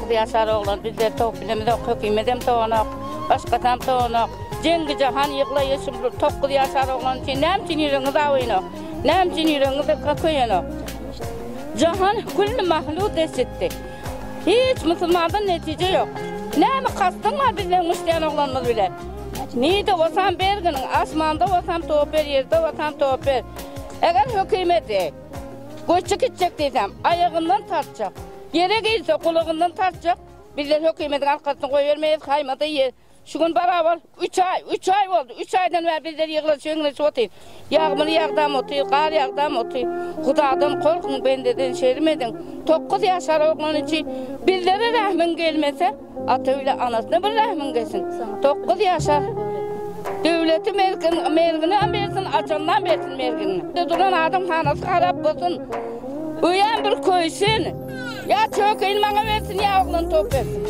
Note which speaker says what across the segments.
Speaker 1: Gyzýaşar oglan bizleri sowup bilemizok, hökümedem sowanok, başgasam sowanok. Jeňňi jahan ýyglaýa şul tokgyz ýaşar oglan üçin näme üçin ýüregiňiz awynok? Näme üçin ýüregiňiz köýenok? Jahan külli mahluk desitdi. Hiç musulmandan netije ýok. Näme kastyň bar bizden müşdýän oglanymyz bilen? Nide bolsam berginiň, asmanda bolsam towup ber, ýerde bolsam towup ber. Eger hökümeti Göçe gitjek diýsem, aýagyndan tartjak. Ýere girse, gulagyndan tartjak. Bizler hökümetiň arkasyny goýbermeýäs, haýmada ýer. Şu gün barabar üç aý, üç aý boldy. Üç aýdan bäri bizler ýygnanyşyp-ýygnanyşyp otyrys. Ýagmyr ýagdam otyr, gar ýagdam otyr. Hudadan gorkuň, bendeden şerm ediň. Dokuz ýaşar oglany üçin bizlere rähmiň gelmese, Ata bile anasyna bir rahmin gelsin dokuz yaşa dövleti mergin mergini am bersin açandan bersin mergini de duran adam hanasy harap bolsun öýem bir köysin ya çökeyin maňa bersin ya oglan top bersin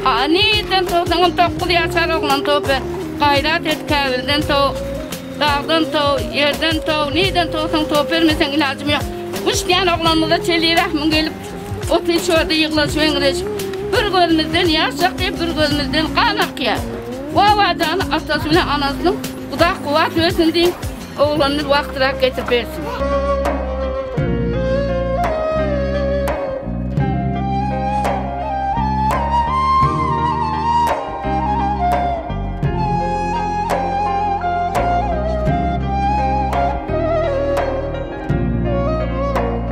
Speaker 1: ha nirden topsaňam dokuz yaşar oglan top ber gayrat et kabilden top dagdan top yerden top nirden topsaň top bermeseň ilajym yok üç däne oglanymyza çeli rahmin gelip Otuň çödi ýyglans weňreşip, Bir gözümizden ýaş akýar, bir gözümizden gan akýar. Bu awazany atasy bilen anasynyň Guda kuwwat bersin diýiň, oglanyny wagtyrak getirip bersin.